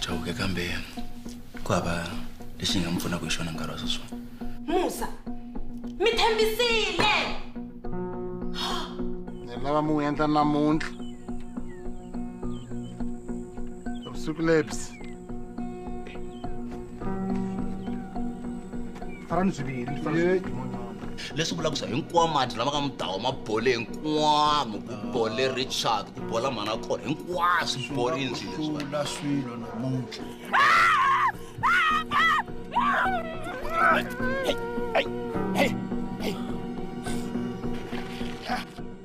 chauke kambe ku hava lexi hi nga mi pfunaka hi xona nkarhi wa sweswona musa mi tshembisile ni lava mi n'wi endla namuntlha vusiku lebyi tara ni swiviri tara ni swiviri leswi vulaka swa hinkwawo mati lama ka mudawa ma bole hinkwamo ku bole richard ku bola mhana kona hinkwaswo swi borile nji leswiula swilo namuntlha Hey, hey, hey.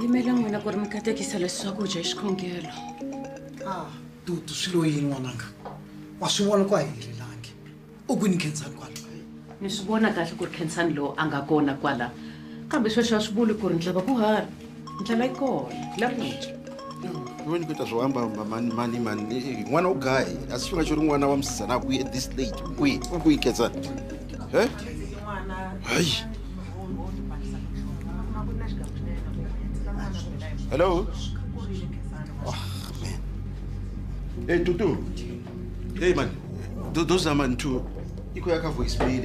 yimela n'wina ku ri mi katekisa leswi swakudya hi xikhongelo ah, dudu swi lo yini n'wananga wa swi vona ku a helelangi u ku ni khensani kwala mi swi vona kahle ku ri khensani lowu a nga kona kwala kambe sweswo a swi vuli ku ri ndlava ku hava ndlala yi kona la ku dya wena ku ta swo hamba hamba mani mani mani eh, n'wana u gayi a si xinga xo ri n'wana wa musizana kwihi at this late kwihi u kwihi ketsa e hayi hello oh, man. hey tutu hey man those are man two ikho yakha voice mail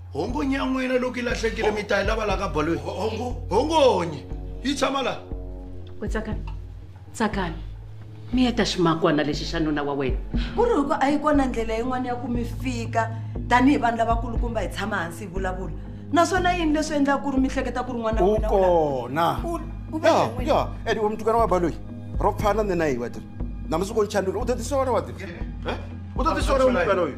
hongo nyan'wina loko yi lahlekile mi ta yi lava la ka baloyi hongonyi yi tshama laha we tsakani tsakani mi heta ximakwana lexi xa nuna wa wena ku ri hikuva a yi kona ndlela yin'wana ya ku mi fika tanihi vanhu lavakulukumba hi tshama hansi hi vulavula naswona yini leswi endlaka ku ri mi hleketa ku ri n'wana u kona ya ya edi we mutukana wa baloyi ro pfana nena hi wadiri namusi ko nchandula u ta tisola wadiri u ta tisola mutukana uyu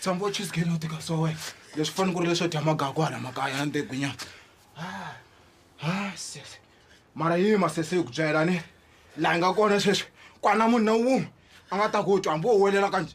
tshama u chizigeni u tika so wena leswi fanele ku ri leswo dya magaku hala makaya ya ntegunyana sese mara yi masese yi ku byela ni laha yi nga kona sweswi kwana munhu na wun'we a nga ta ku twa hambi wo welela kanje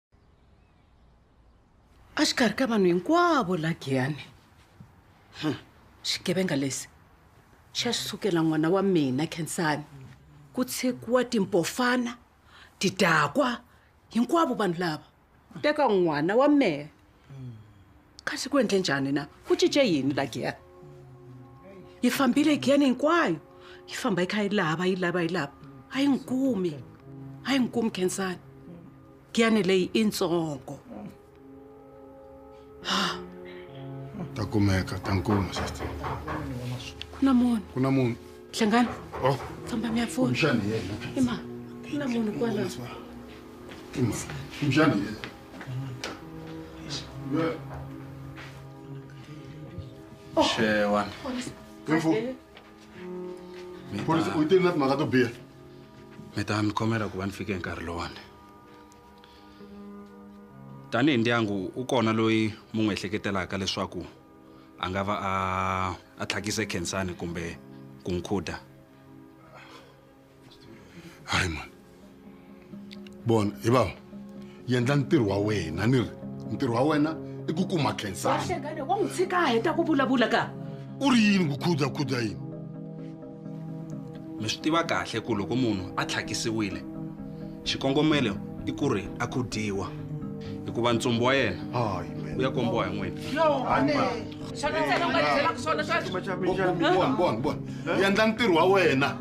a xikarhi ka vanhu hinkwavo la giyani hmm. xigevenga lexi xa sukela n'wana wa mina khensani ku tshekiwa timpofana tidakwa hinkwavo vanhu lava teka n'wana wa mehe kasi ku endle njhani na ku cince yini la giyani yi fambile giyani hinkwayo yi famba yi kha yi lava yi lava yi lava a yi n'wi kumi a yi n'wi kumi khensani giyani leyi i ntsongo ta kumeka ta nkuma sister ku na munhu ku na munhu hlengani oh famba mi ya pfuna xana yena ima ku na munhu kwalaho ima xana yena Shewan. Info. Polisi u tile na timhaka to biha. Mi ta mi khomela ku va ni fike hi nkarhi lowani. Tanihi ndyangu u kona loyi mu n'wi ehleketelaka leswaku a nga va a a tlhakise khensani kumbe ku nkhuda. hayi mani bona hi vava yendla ntirho wa wena ni ri ntirho wa wena i ku kuma khensani Wahlekane, wa n'wi tshika a heta ku vulavula ka u ri yini ku khudzakhudza yini mi swi tiva kahle ku loko munhu a tlhakisiwile xikongomelo i ku ri a khudiwa hikuva ntsumbu wa yena u ya kombiwa hi n'wina Bon, bon, bon. Yendla ntirho wa wena.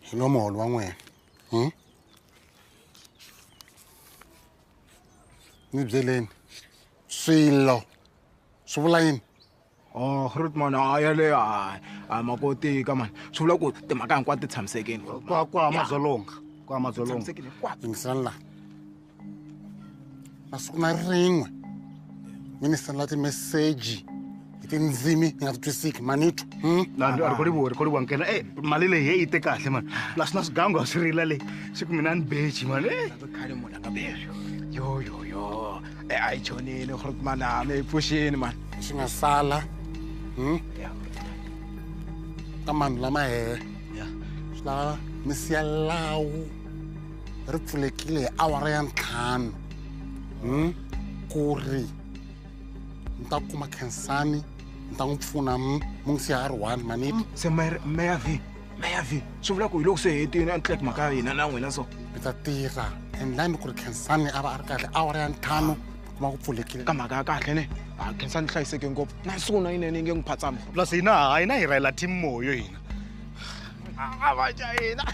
hi nwa muholo wa n'wina hmm? ni byeleni swilo swi vula yini Oh, Ruth man, a ya le a a makoti ka mani. Swi vula ku timhaka hinkwato ti tshamisekile. kwa kwa madzolonga kwa madzolonga Tshamisekile hinkwato. yingiselani laha na siku na rin'we mi ni sendela timeseji hi tindzimi ni nga ti twisiki manito hmm? rikolivo rikolivo nkena e mali leyi he yi te kahle mani plus na swigangu a swi rila leyi swi ku mina ni beji mani eh. khale munhu a nga beji yo yo yo e a yi chonile gore mani a mi yi pfuxini mani swi nga sala hmm? ka manhu lama hehe swi lava mi siya lawu ri pfulekile hi awara ya ntlhanu hmm? ku ri ni ta kuma khensani ni ta n'wi pfuna hmm? mu ngi siya a ri one maniti hmm, se meya v meya v swi vula ku hi loko se hetini a ni tleki mhaka ya hina na n'wina so mi ta tirha endlani ku ri khensani a va a ri kahle awara ya ntlhanu kuma ku pfulekile ka mhaka ya kahle ne ha khensa ni hlayiseke ngopfu na siku na yinene yi nge n'wi phatsami plus hina ha hina hi rhayela team moyo hina a va ca hina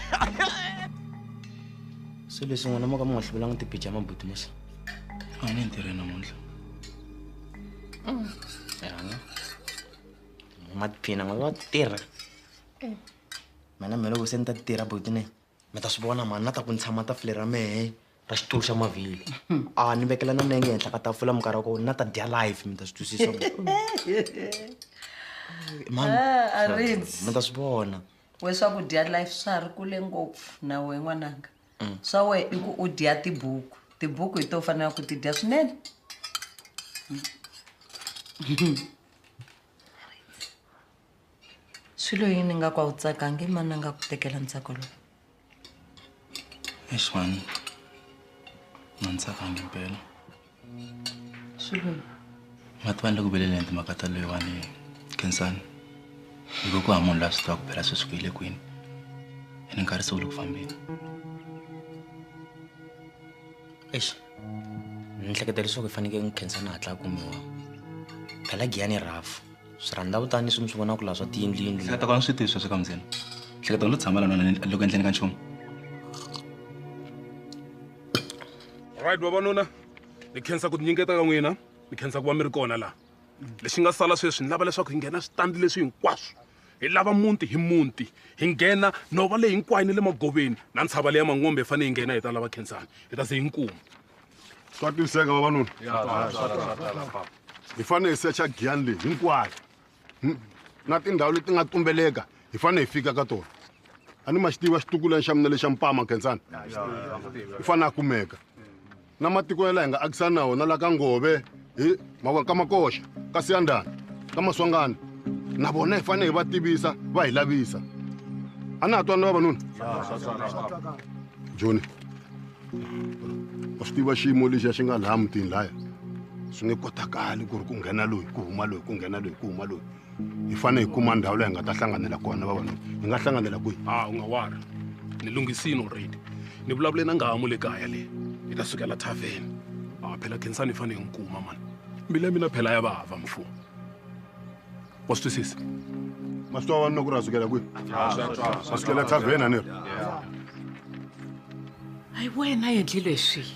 se leswi n'wina mo ka mi nga hluvelanga tipicha ya mabuti musa a ni ntirhweni namuntlha yana matiphina n'we va tirha mina mina loko se ni ta tirha botine mi ta swi vona mani na ta ku ni tshama tafule ra mehe ra xitulu xa mavhili a ni vekela na nenge henhla ka tafula minkarhi ya kona na ta dya life mi ta swi twisisa mani mi ta swi vona we swakudya life swa ha ri kule ngopfu na wehe n'wananga mm. swa wehe i ku u dya tibuku tibuku hi to fanela ku ti dya swinene swilo yini nga ku a wu tsakangi mani a nga ku tekela ntsako lowu Eish man. Nginisakanga impela. Shilweni. Ngathi abantu kubele lento makatalo yewani Khensani. Yiko ku hamunhu la swi tivaka phela sweswi ku yile kwini. Ene nkarhi se wu le ku fambeni. Eish. Ni hleketa leswaku i fanekele Khensani a hatla a kumiwa. Phela Giyani i rhafu. swi rhandza kutani swin'wi swi vona ku laha swa tiyindliyindli hleketa kona swi tiyiswa swi ka mundzeni hleketa lo tshama lana loko endleni ka nchumu right vavanuna ni khensa ku tinyingeta ka n'wina ni khensa ku va mi ri kona laha lexi nga sala sweswi ni lava leswaku hi nghena switandi leswi hinkwaswo hi lava muti hi muti hi nghena nhova leyi hinkwayo ni le magoveni na ntshava leya mangombe hi fanele hi nghena hi ta lava khensani hi ta se hi nkuma swa twiseka vavanuna hi fanele hi secha giyani leyi hinkwayo hmm? na tindhawu leti nga tumbeleka hi fanele hi fika ka tona a ni ma xi tiva xitukulani xa mina lexa mpama khensani i fanele a kumeka na matiko ya laha hi nga akisana na wona la ka ngove hi mavona ka makoxa ka siyandana ka maswangana na vona hi fanele hi va tivisa va hi lavisa a na ha twana vavanuna joni wa swi tiva xiyimo lexi a xi nga laha mutini laya swi nge kotakali ku ri ku nghena loyi ku huma loyi ku nghena loyi ku huma loyi hi fanele hi kuma ndhawu leyi hi nga ta hlanganela kona vavanuna hi nga hlanganela kwihi a ah, u nga wari ni lunghisini already ni vulavule na ngahamu le kaya leyi hi ta sukela thaveni a ah, phela khensani hi fanele hi n'wi kuma mani mbila mina phela ya vava mfumo wa swi twisisa ma swi twa vanuna ku ri a sukela kwihi a sukela thaveni a ni ri hayi wena endlile swihi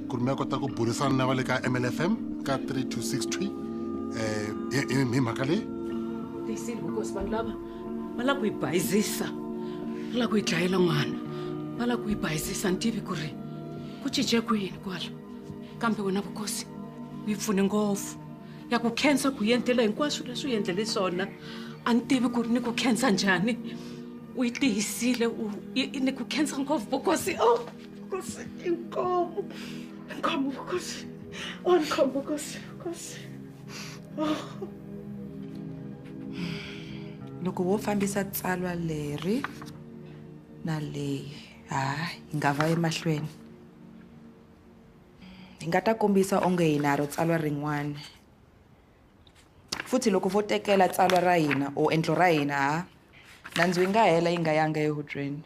ku ri mi ya kota ku burisana na va le ka mlfm ka 3263 um eh, hi mhaka leyi tiyisile vukosi vanhu lava va lava ku yi bayizisa va lava ku yi dlayela n'wana va lava ku yi bayizisa ni tivi ku ri ku cince ku yini kwala kambe wena vukosi u yi pfune ngopfu ya ku khensa ku yi endlela hinkwaswo leswi u yi endlele swona a ni tivi ku ri ni ku khensa njhani u yi tiyisile ni ku khensa ngopfu vukosi o oh! kò sí kí n kọ́ ọmọ nǹkan mú kò sí wọn nǹkan mú kò sí kò sí. loko wo fambisa tsalwa leri na leyi ha hi nga va emahlweni hi nga ta kombisa onge hi na ro tsalwa rin'wana futhi loko vo tekela tsalwa ra hina or endlo ra hina ha nandzu yi nga hela yi nga yanga ehubyeni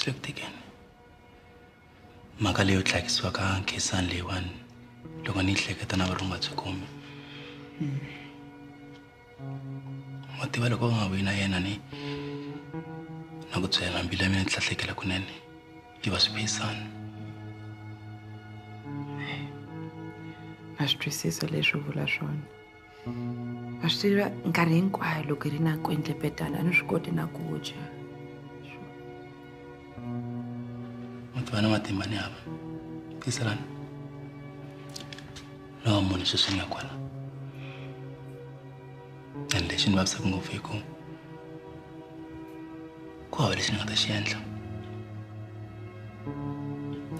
Hlektekeni hmm. mhaka leyo tlhakisiwa ka nkhisani leyiwani loko ni yi hleketa na varunga byi kumi hmm. wa tiva loko u nga vuyi na yena ni na ku byela mbilu ya mina ni tlhahlekela kunene yi va swiphisana na swi twisisa leswi vula swona wa swi tiva nkarhi hinkwayo loko hi ri na ku endlepetana a ni swi koti na ku dya u tiva na matimba ni hava tiselana lawa munhu sweswi ni ya kwala and lexi ni vavisaka ngopfu hi ku ku hava lexi ni nga ta xi endla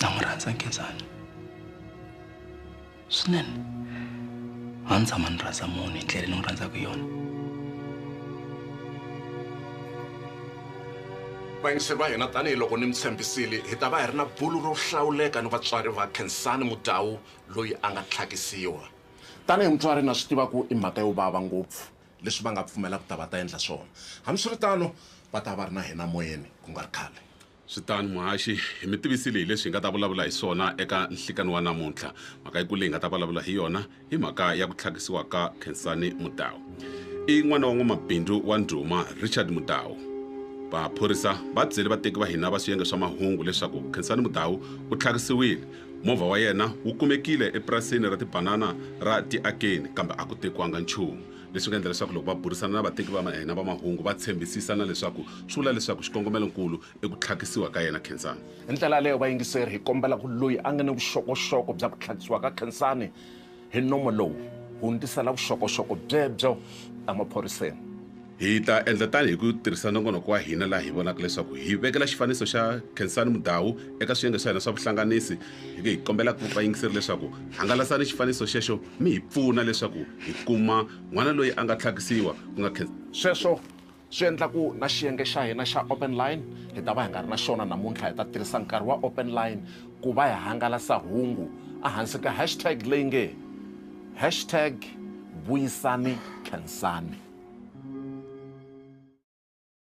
na n'wi rhandza nkenzana swinene a ni tshama ni rhandza munhu hi ndlela ni n'wi rhandzaka yona vayingiseri va hina tanihiloko ni mi tshembisile hi ta va hi ri na bulu ro hlawuleka ni vatswari va khensani mudawu loyi a nga tlhakisiwa tanihi mutswari na swi tiva ku i mhaka yo vava ngopfu leswi va nga pfumela ku ta va ta endla swona hambiswiritano va ta va ri na hina moyeni ku nga ri khale Swi tano muhaxi, hi mi tivisile hi leswi hi nga ta vulavula hi swona eka nhlikani wa namuntlha. Mhaka yikulu leyi hi nga ta vulavula hi yona i mhaka ya ku tlhakisiwa ka Khensani Mudau. I n'wana wa n'wamabindzu wa ndhuma Richard Mudau. Vaphorisa va byele vateki va hina va swiyenge swa mahungu leswaku Khensani Mudau u tlhakisiwile. Movha wa yena wu kumekile epurasini ra tibanana ra Tiakeni kambe a ku tekiwanga nchumu. leswi nga endla leswaku loko va burisana na vateki va hina va mahungu va tshembisisa na leswaku swi vula leswaku xikongomelo-nkulu i ku tlhakisiwa ka yena Khensani. Hi ndlela yaleyo, vayingiseri, hi kombela ku loyi a nga ni vuxokoxoko bya ku tlhakisiwa ka Khensani hi nomo lowu, hundzisela vuxokoxoko byebyo emaphoriseni. Hi ta endla tano hi ku tirhisa nongonoko wa hina laha hi vonaka leswaku hi vekela xifaniso xa Khensani Mudau eka swiyenge swa hina swa vuhlanganisi. Hi kombela vayingiseri leswaku hangalasani xifaniso xexo mi hi pfuna leswaku hi kuma n'wana loyi a nga tlhakisiwa ku nga khe. Sweswo swi endla ku na xiyenge xa hina xa Open Line hi ta va hi nga ri na xona namuntlha. Hi ta tirhisa nkarhi wa Open Line ku va hi hangalasa hungu ehansi ka hashtag leyi nge hashtag Vuyisani Khensani.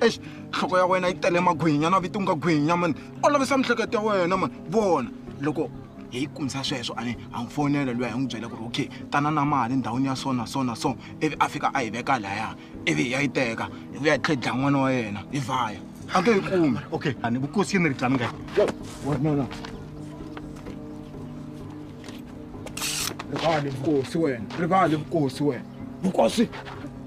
ex nhloko ya wena yi tele magwinya na viti u nga gwinya mani olovisa miehleketo ya wena mani vona loko hi kumisa sweswo a a n'wi fonela luya hi n'wi byela ku ri okay tana na mali ndhawini ya so na so na so ivi a fika a yi veka laya ivi hi ya yi teka hi vuya hi tlhe dlaya n'wana wa yena hi vhaya a nge yi kumi okay a ni vukosi yi ni ri tlani nga rivali vukosi wena rivali vukosi wena vukosi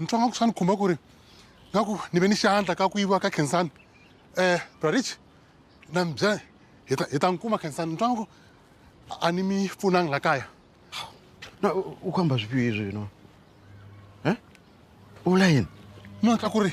ni twa nga ku swa ni khumba ku ri nga ku ni ve ni xandla ka ku yiviwa ka khensani um eh, brarich na mi byela hi ta hi ta n'wi kuma khensani ni twa nga ku a ni mi pfunangi la kaya na u kamba swipiwi izwi no um eh? u vula yini no twa ku ri